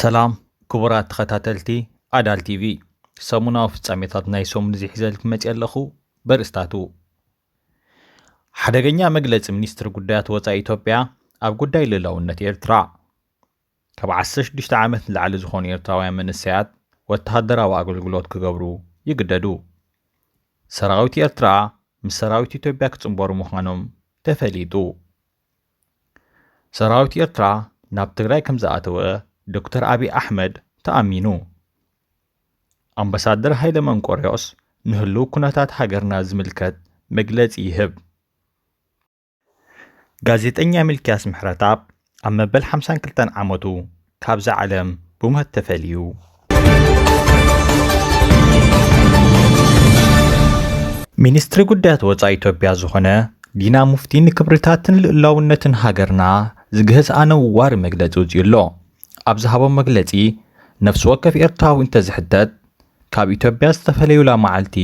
ሰላም ክቡራት ተኸታተልቲ ኣዳል ቲቪ ሰሙናዊ ፍጻሜታት ናይ ሰሙን እዚ ሒዘልክ መፅ ኣለኹ በርእስታቱ ሓደገኛ መግለፂ ሚኒስትሪ ጉዳያት ወፃኢ ኢትዮጵያ ኣብ ጉዳይ ልእላውነት ኤርትራ ካብ ዓሰርተ ሽዱሽተ ዓመት ንላዕሊ ዝኾኑ ኤርትራውያን መንእሰያት ወተሃደራዊ ኣገልግሎት ክገብሩ ይግደዱ። ሰራዊት ኤርትራ ምስ ሰራዊት ኢትዮጵያ ክጽንበሩ ምዃኖም ተፈሊጡ። ሰራዊት ኤርትራ ናብ ትግራይ ከም ዝኣተወ ዶክተር ኣብዪ ኣሕመድ ተኣሚኑ። ኣምባሳደር ሃይለ መንቆርዮስ ንህሉው ኩነታት ሃገርና ዝምልከት መግለጺ ይህብ። ጋዜጠኛ ሚልክያስ ምሕረትኣብ ኣብ መበል ሓምሳን ክልተን ዓመቱ ካብዛ ዓለም ብሞት ተፈልዩ። ሚኒስትሪ ጉዳያት ወፃኢ ኢትዮጵያ ዝኾነ ዲና ሙፍቲ ንክብርታትን ልእላውነትን ሃገርና ዝግህስ ኣነዋሪ መግለፂ ውፅኡ ኣሎ ኣብ ዝሃቦ መግለፂ ነፍሲ ወከፍ ኤርትራዊ እንተዝሕተት ካብ ኢትዮጵያ ዝተፈለዩላ መዓልቲ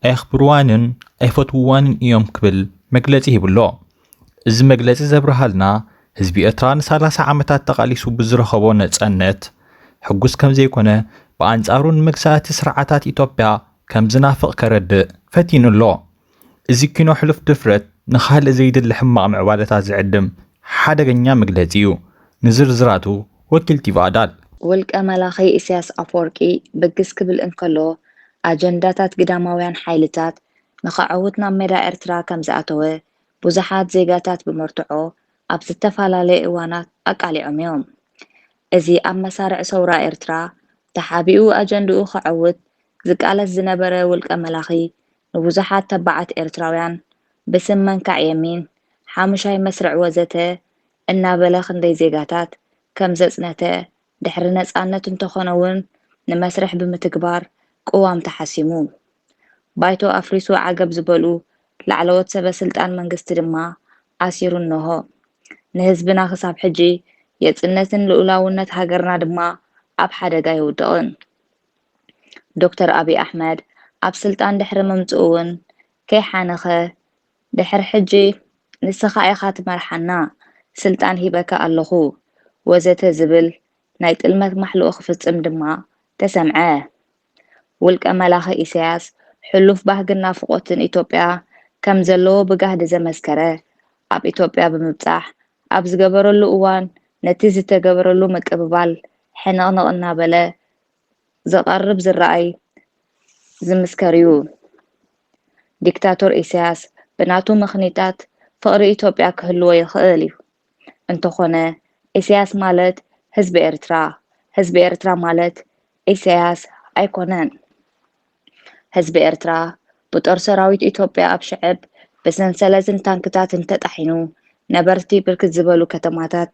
ኣየኽብርዋንን ኣይፈትውዋንን እዮም ክብል መግለጺ ሂቡ'ሎ። እዚ መግለጺ ዘብርሃልና፣ ህዝቢ ኤርትራ ንሳላሳ ዓመታት ተቓሊሱ ብዝረኸቦ ነጸነት ሕጉስ ከምዘይኮነ፣ ብኣንጻሩ ንመግዛእቲ ስርዓታት ኢትዮጵያ ከምዝናፍቕ ከረድእ ፈቲኑ'ሎ። እዚ ኪኖ ሕሉፍ ድፍረት ንኻልእ ዘይድለ ሕማቕ ምዕባለታት ዝዕድም ሓደገኛ መግለጺ'ዩ። ንዝርዝራቱ ወኪል ቲቪ ኣዳል። ውልቀ መላኺ ኢሳያስ ኣፈወርቂ ብግስ ክብል እንከሎ፣ ኣጀንዳታት ግዳማውያን ሓይልታት ንኸዐውት ናብ ሜዳ ኤርትራ ከም ዝኣተወ ብዙሓት ዜጋታት ብመርትዖ ኣብ ዝተፈላለየ እዋናት ኣቃሊዖም እዮም። እዚ ኣብ መሳርዕ ሰውራ ኤርትራ ተሓቢኡ ኣጀንድኡ ከዐውት ዝቃለስ ዝነበረ ውልቀ መላኺ ንብዙሓት ተባዓት ኤርትራውያን ብስም መንካዕ የሚን፣ ሓሙሻይ መስርዕ ወዘተ እናበለ ክንደይ ዜጋታት ከም ዘጽነተ ድሕሪ ነጻነት እንተኾነ'ውን ንመስርሕ ብምትግባር ቅዋም ተሓሲሙ። ባይቶ ኣፍሪሱ ዓገብ ዝበሉ ላዕለዎት ሰበ ስልጣን መንግስቲ ድማ ኣሲሩ እነሆ ንህዝብና ክሳብ ሕጂ የጽነትን ልኡላውነት ሃገርና ድማ ኣብ ሓደጋ ይውድቕን። ዶክተር ኣቢይ ኣሕመድ ኣብ ስልጣን ድሕሪ ምምጽኡ'ውን ከይሓነኸ ድሕሪ ሕጂ ንስኻ ኢኻ ትመርሓና፣ ስልጣን ሂበካ ኣለኹ፣ ወዘተ ዝብል ናይ ጥልመት ማሕልኡ ክፍጽም ድማ ተሰምዐ። ውልቀ መላኺ ኢሳያስ ሕሉፍ ባህግን ናፍቖትን ኢትዮጵያ ከም ዘለዎ ብጋህዲ ዘመስከረ ኣብ ኢትዮጵያ ብምብጻሕ ኣብ ዝገበረሉ እዋን ነቲ ዝተገበረሉ ምቅብባል ሕንቕንቕ እናበለ ዝቐርብ ዝረኣይ ዝምስከር'ዩ። ዲክታቶር ኢሳያስ ብናቱ ምኽኒታት ፍቕሪ ኢትዮጵያ ክህልዎ ይኽእል'ዩ። እንተኾነ ኢሳያስ ማለት ህዝቢ ኤርትራ፣ ህዝቢ ኤርትራ ማለት ኢሳያስ ኣይኮነን። ህዝቢ ኤርትራ ብጦር ሰራዊት ኢትዮጵያ ኣብ ሽዕብ ብሰንሰለትን ታንክታትን ተጣሒኑ ነበርቲ ብርክት ዝበሉ ከተማታት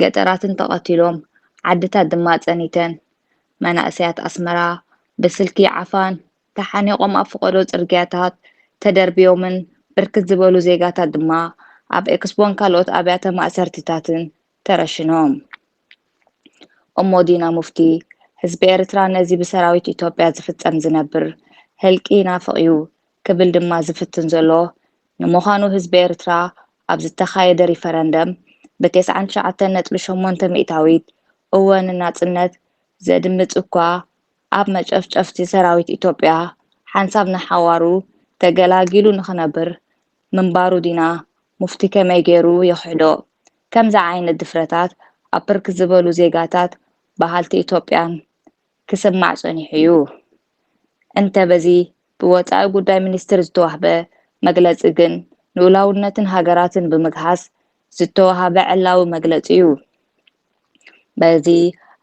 ገጠራትን ተቐቲሎም ዓድታት ድማ ጸኒተን መናእሰያት ኣስመራ ብስልኪ ዓፋን ተሓኒቖም ኣብ ፍቐዶ ጽርግያታት ተደርብዮምን ብርክት ዝበሉ ዜጋታት ድማ ኣብ ኤክስቦን ካልኦት ኣብያተ ማእሰርትታትን ተረሽኖም እሞ ዲና ሙፍቲ ህዝቢ ኤርትራ ነዚ ብሰራዊት ኢትዮጵያ ዝፍጸም ዝነብር ህልቂ ይናፍቕ'ዩ ክብል ድማ ዝፍትን ዘሎ ንምዃኑ ህዝቢ ኤርትራ ኣብ ዝተኻየደ ሪፈረንደም ብቴስዓን ትሽዓተን ነጥቢ ሸሞንተ ሚእታዊት እወ ንናጽነት ዘድምጽ እኳ ኣብ መጨፍጨፍቲ ሰራዊት ኢትዮጵያ ሓንሳብ ንሓዋሩ ተገላጊሉ ንኽነብር ምንባሩ ዲና ሙፍቲ ከመይ ጌሩ ይኽሕዶ ከምዚ ዓይነት ድፍረታት ኣብ ብርክት ዝበሉ ዜጋታት በሃልቲ ኢትዮጵያን ክስማዕ ጸኒሑ እዩ እንተ በዚ ብወጻኢ ጉዳይ ሚኒስትር ዝተዋህበ መግለጺ ግን ልኡላውነትን ሃገራትን ብምግሃስ ዝተዋህበ ዕላዊ መግለጺ እዩ በዚ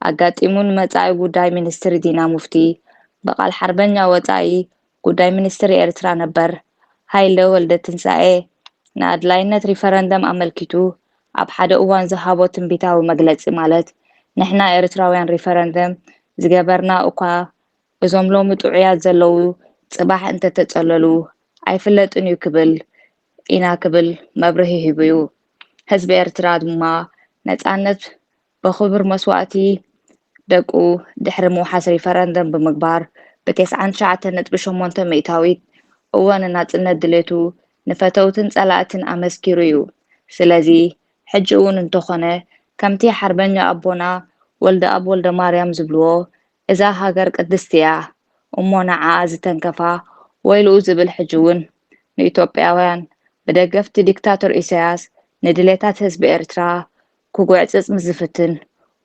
ኣጋጢሙ ንመጻኢ ጉዳይ ሚኒስትር ዲና ሙፍቲ ብቃል ሓርበኛ ወጻኢ ጉዳይ ሚኒስትር ኤርትራ ነበር ሃይለ ወልደትንሳኤ ንኣድላይነት ሪፈረንደም ኣመልኪቱ ኣብ ሓደ እዋን ዝሃቦ ትንቢታዊ መግለጺ ማለት ንሕና ኤርትራውያን ሪፈረንደም ዝገበርና እኳ እዞም ሎሚ ጥዑያት ዘለዉ ጽባሕ እንተተጸለሉ ኣይፍለጥን እዩ ክብል ኢና ክብል መብርሂ ሂቡዩ። ህዝቢ ኤርትራ ድማ ነጻነት ብኽቡር መስዋእቲ ደቁ ድሕሪ ምውሓስ ሪፈረንደም ብምግባር ብቴስዓን ትሽዓተን ነጥቢ ሸሞንተ ሚእታዊት እወ ንናጽነት ድሌቱ ንፈተውትን ጸላእትን ኣመስኪሩ እዩ። ስለዚ ሕጂ እውን እንተኾነ ከምቲ ሓርበኛ ኣቦና ወልደኣብ ወልደማርያም ዝብልዎ እዛ ሃገር ቅድስቲ እያ እሞ ንዓኣ ዝተንከፋ ወይልኡ ዝብል ሕጂ እውን ንኢትዮጵያውያን ብደገፍቲ ዲክታቶር ኢሳያስ ንድሌታት ህዝቢ ኤርትራ ክጉዕጽጽ ምስ ዝፍትን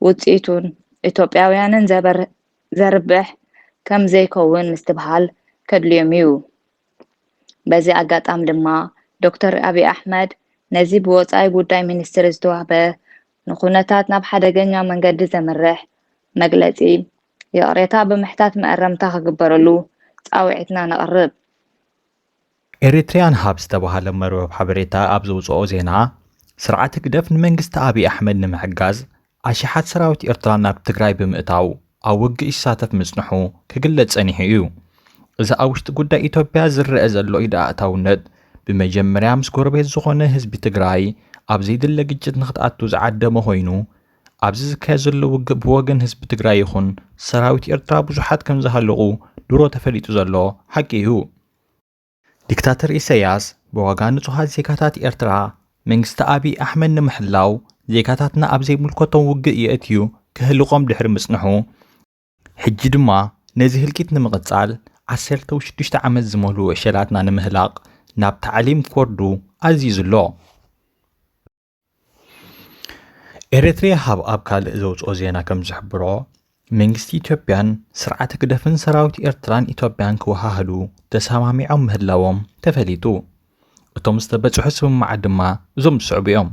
ውጽኢቱን ኢትዮጵያውያንን ዘርብሕ ከም ዘይከውን ምስትብሃል ከድልዮም'ዩ። በዚ ኣጋጣሚ ድማ ዶክተር ኣብይ ኣሕመድ ነዚ ብወጻኢ ጉዳይ ሚኒስትሪ ዝተዋህበ ንኩነታት ናብ ሓደገኛ መንገዲ ዘምርሕ መግለጺ ይቕሬታ ብምሕታት መእረምታ ክግበረሉ ጻውዒትና ነቕርብ። ኤሪትሪያን ሃብ ዝተባህለ መርበብ ሓበሬታ ኣብ ዘውጽኦ ዜና፣ ስርዓት ህግደፍ ንመንግስቲ ኣቢይ ኣሕመድ ንምሕጋዝ ኣሽሓት ሰራዊት ኤርትራ ናብ ትግራይ ብምእታው ኣብ ውግእ ይሳተፍ ምጽንሑ ክግለጽ ጸኒሑ እዩ። እዚ ኣብ ውሽጢ ጉዳይ ኢትዮጵያ ዝረኣ ዘሎ ኢድ ኣእታውነት ብመጀመርያ ምስ ጎረቤት ዝኾነ ህዝቢ ትግራይ ኣብ ዘይድለ ግጭት ንክትኣቱ ዝዓደመ ኮይኑ ኣብዚ ዝካየድ ዘሎ ውግእ ብወገን ህዝቢ ትግራይ ይኹን ሰራዊት ኤርትራ ብዙሓት ከምዝሃለቑ ድሮ ተፈሊጡ ዘሎ ሓቂ እዩ። ዲክታተር ኢሳያስ ብዋጋ ንጹሃት ዜጋታት ኤርትራ መንግስቲ ኣቢይ ኣሕመድ ንምሕላው ዜጋታትና ኣብ ዘይምልከቶም ውግእ የእትዩ ከህልቖም ድሕሪ ምጽንሑ ሕጂ ድማ ነዚ ህልቂት ንምቕጻል ዓሰርተው ሽዱሽተ ዓመት ዝመልኡ ዕሸላትና ንምህላቕ ናብ ታዕሊም ክወርዱ ኣዚዙ ኣሎ። ኤረትርያ ሃብ ኣብ ካልእ ዘውጽኦ ዜና ከም ዝሕብሮ መንግስቲ ኢትዮጵያን ስርዓት ህግደፍን ሰራዊት ኤርትራን ኢትዮጵያን ክወሃህዱ ተሰማሚዖም ምህላዎም ተፈሊጡ እቶም ዝተበጽሑ ስምምዓት ድማ እዞም ዝስዕቡ እዮም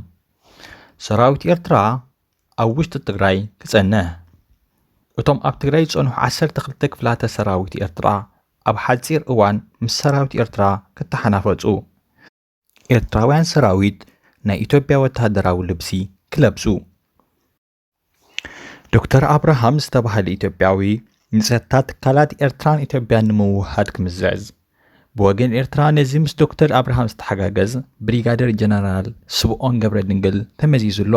ሰራዊት ኤርትራ ኣብ ውሽጢ ትግራይ ክጸንሕ እቶም ኣብ ትግራይ ዝጸንሑ 12 ክፍላተ ሰራዊት ኤርትራ ኣብ ሓጺር እዋን ምስ ሰራዊት ኤርትራ ክተሓናፈጹ ኤርትራውያን ሰራዊት ናይ ኢትዮጵያ ወተሃደራዊ ልብሲ ክለብሱ ዶክተር ኣብርሃም ዝተባህለ ኢትዮጵያዊ ንጸጥታ ትካላት ኤርትራን ኢትዮጵያን ንምውህሃድ ክምዝዕዝ ብወገን ኤርትራ ነዚ ምስ ዶክተር ኣብርሃም ዝተሓጋገዝ ብሪጋደር ጀነራል ስብኦን ገብረ ድንግል ተመዚዙ ኣሎ።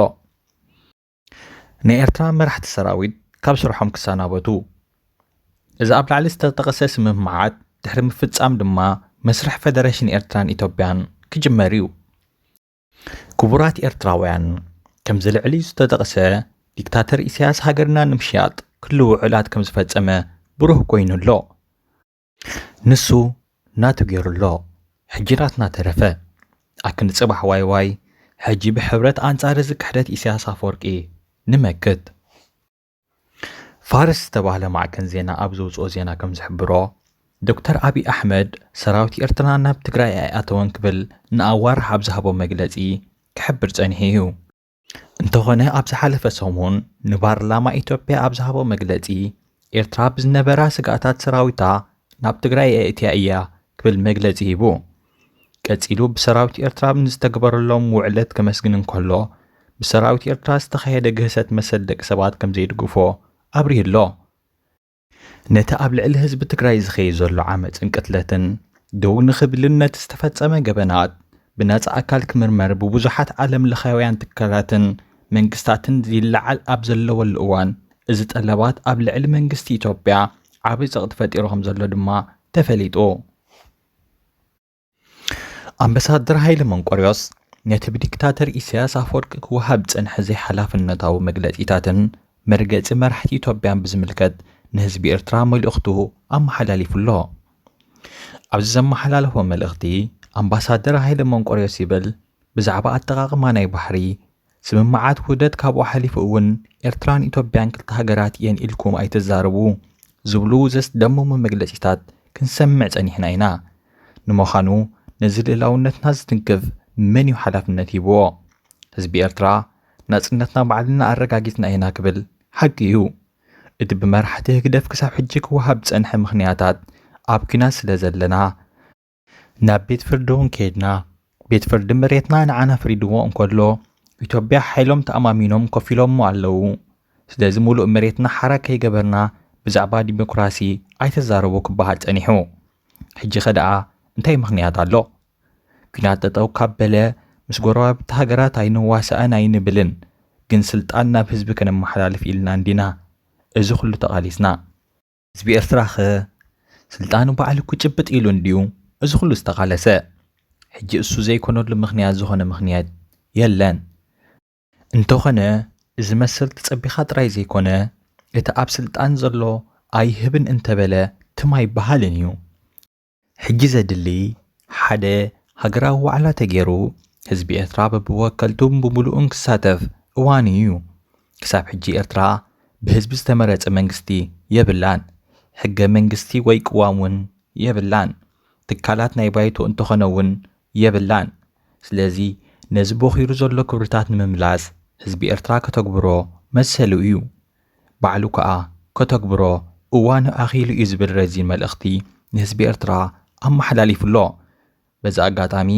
ናይ ኤርትራ መራሕቲ ሰራዊት ካብ ስርሖም ክሰናበቱ እዚ ኣብ ላዕሊ ዝተጠቐሰ ስምምዓት ድሕሪ ምፍጻም ድማ መስርሕ ፌደሬሽን ኤርትራን ኢትዮጵያን ክጅመር እዩ ክቡራት ኤርትራውያን ከምዚ ልዕሊ ዝተጠቕሰ ዲክታተር ኢሳያስ ሃገርና ንምሽያጥ ክሉ ውዕላት ከም ዝፈጸመ ብሩህ ኮይኑ ኣሎ ንሱ ናቱ ጌሩ ኣሎ ሕጂ ናትና ተረፈ ኣክንዲ ጽባሕ ዋይ ዋይ ሕጂ ብሕብረት ኣንጻር እዚ ክሕደት ኢሰያስ ኣፈወርቂ ንመክት። ፋርስ ዝተባህለ ማዕከን ዜና ኣብ ዘውጽኦ ዜና ከም ዝሕብሮ፣ ዶክተር ኣቢይ ኣሕመድ ሰራዊት ኤርትራ ናብ ትግራይ ኣይኣተወን ክብል ንኣዋርሕ ኣብ ዝሃቦ መግለጺ ክሕብር ጸኒሑ እዩ። እንተኾነ ኣብ ዝሓለፈ ሰሙን ንፓርላማ ኢትዮጵያ ኣብ ዝሃቦ መግለፂ ኤርትራ ብዝነበራ ስግኣታት ሰራዊታ ናብ ትግራይ ኣእትያ እያ ክብል መግለፂ ሂቡ። ቀጺሉ ብሰራዊት ኤርትራ ንዝተግበረሎም ውዕለት ከመስግን እንከሎ ብሰራዊት ኤርትራ ዝተኻየደ ግህሰት መሰል ደቂ ሰባት ከም ዘይድግፎ ኣብሪሁ ኣሎ። ነቲ ኣብ ልዕሊ ህዝቢ ትግራይ ዝኸይድ ዘሎ ዓመፅን ቅትለትን ደው ንኽብልን ነቲ ዝተፈፀመ ገበናት ብነፃ ኣካል ክምርመር ብብዙሓት ዓለም ለኻውያን ትካላትን መንግስታትን ይለዓል ኣብ ዘለወሉ እዋን እዚ ጠለባት ኣብ ልዕሊ መንግስቲ ኢትዮጵያ ዓብይ ፀቕጢ ፈጢሩ ከምዘሎ ድማ ተፈሊጡ። ኣምበሳደር ሃይለ መንቆርዮስ ነቲ ብዲክታተር ኢሳያስ ኣፈወርቂ ክወሃብ ዝጸንሐ ዘይሓላፍነታዊ መግለጺታትን መርገጺ መራሕቲ ኢትዮጵያን ብዝምልከት ንህዝቢ ኤርትራ መልእኽቱ ኣመሓላሊፉ ኣሎ። ኣብዚ ዘመሓላለፎ መልእኽቲ ኣምባሳደር ሃይለ መንቆርዮስ ይብል ብዛዕባ ኣጠቓቕማ ናይ ባሕሪ ስምምዓት ውህደት ካብኡ ሓሊፉ እውን ኤርትራን ኢትዮጵያን ክልተ ሃገራት እየን ኢልኩም ኣይትዛረቡ ዝብሉ ዘስደምሙ መግለጺታት ክንሰምዕ ጸኒሕና ኢና። ንምዃኑ ነዚ ልእላውነትና ዝትንክፍ መን እዩ ሓላፍነት ሂብዎ? ህዝቢ ኤርትራ ናጽነትና ባዕልና ኣረጋጊጽና ኢና ክብል ሓቂ እዩ። እቲ ብመራሕቲ ህግደፍ ክሳብ ሕጂ ክወሃብ ዝጸንሐ ምኽንያታት ኣብ ኲናት ስለዘለና፣ ናብ ቤት ፍርዲ እውን ከይድና ቤት ፍርዲ መሬትና ንዓና ፍሪድዎ እንከሎ ኢትዮጵያ ሓይሎም ተኣማሚኖም ኮፍ ኢሎሞ ኣለዉ ስለዚ ሙሉእ መሬትና ሓራ ከይገበርና ብዛዕባ ዲሞክራሲ ኣይተዛረቡ ክበሃል ጸኒሑ ሕጂ ከደኣ እንታይ ምክንያት ኣሎ ኲናት ጠጠው ካብ በለ ምስ ጎረባብቲ ሃገራት ኣይንዋሳእን ኣይንብልን ግን ስልጣን ናብ ህዝቢ ከነመሓላልፍ ኢልና እንዲና እዚ ኩሉ ተቓሊስና ህዝቢ ኤርትራኸ ስልጣኑ ባዕሉ ክጭብጥ ኢሉ እንድዩ እዚ ኩሉ ዝተቓለሰ። ሕጂ እሱ ዘይኮነሉ ምኽንያት ዝኾነ ምኽንያት የለን። እንተኾነ እዚ መሰል ተጸቢኻ ጥራይ ዘይኮነ እቲ ኣብ ስልጣን ዘሎ ኣይህብን እንተበለ ትም ኣይበሃልን እዩ። ሕጂ ዘድሊ ሓደ ሃገራዊ ዋዕላ ተጌሩ ህዝቢ ኤርትራ በብወከልቱን ብምሉኡን ክሳተፍ እዋኑ ኢዩ። ክሳብ ሕጂ ኤርትራ ብህዝቢ ዝተመረጸ መንግስቲ የብላን። ሕገ መንግስቲ ወይ ቅዋም ውን የብላን። ትካላት ናይ ባይቶ እንተኾነ ውን የብላን። ስለዚ ነዚ ቦኺሩ ዘሎ ክብርታት ንምምላስ ህዝቢ ኤርትራ ከተግብሮ መሰሉ ኢዩ። ባዕሉ ከኣ ከተግብሮ እዋኑ ኣኺሉ እዩ ዝብል ረዚን መልእኽቲ ንህዝቢ ኤርትራ ኣመሓላሊፉ ኣሎ። በዚ ኣጋጣሚ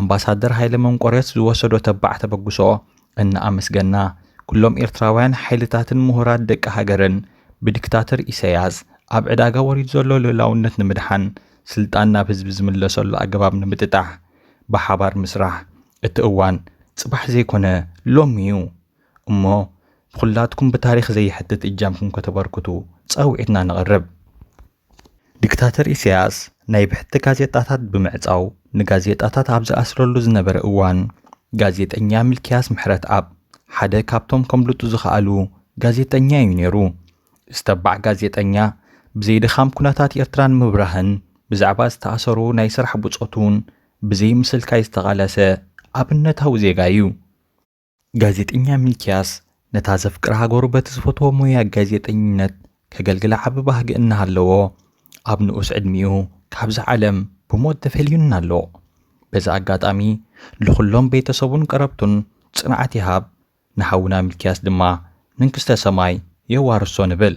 ኣምባሳደር ሃይለ መንቆርዮስ ዝወሰዶ ተባዕ ተበግሶ እናኣመስገና፣ ኩሎም ኤርትራውያን ሓይልታትን ምሁራት ደቂ ሃገርን ብዲክታተር ኢሳይያስ ኣብ ዕዳጋ ወሪዱ ዘሎ ልኡላውነት ንምድሓን ስልጣን ናብ ህዝቢ ዝምለሰሉ ኣገባብ ንምጥጣሕ ብሓባር ምስራሕ እቲ እዋን ጽባሕ ዘይኮነ ሎሚ'ዩ እሞ ኹላትኩም ብታሪኽ ዘይሕትት እጃምኩም ከተበርክቱ ጻውዒትና ነቕርብ። ዲክታተር ኢሳያስ ናይ ብሕቲ ጋዜጣታት ብምዕጻው ንጋዜጣታት ኣብ ዝኣስረሉ ዝነበረ እዋን፣ ጋዜጠኛ ሚልክያስ ምሕረትኣብ ሓደ ካብቶም ከምልጡ ዝኸኣሉ ጋዜጠኛ እዩ ነይሩ። እዚ ተባዕ ጋዜጠኛ ብዘይ ድኻም ኩነታት ኤርትራ ንምብራህን ብዛዕባ ዝተኣሰሩ ናይ ስራሕ ብጾቱን ብዘይ ምስልካይ ዝተቓለሰ ኣብነታዊ ዜጋ እዩ። ጋዜጠኛ ሚልክያስ ነታ ዘፍቅራ ሃገሩ በቲ ዝፈትዎ ሞያ ጋዜጠኝነት ከገልግላ ዓቢ ባህጊ እናሃለዎ ኣብ ንኡስ ዕድሚኡ ካብዛ ዓለም ብሞት ተፈልዩና ኣሎ። በዚ ኣጋጣሚ ልኹሎም ቤተሰቡን ቀረብቱን ጽንዓት ይሃብ፣ ንሓውና ሚልክያስ ድማ መንግስተ ሰማይ የዋርሶ ንብል።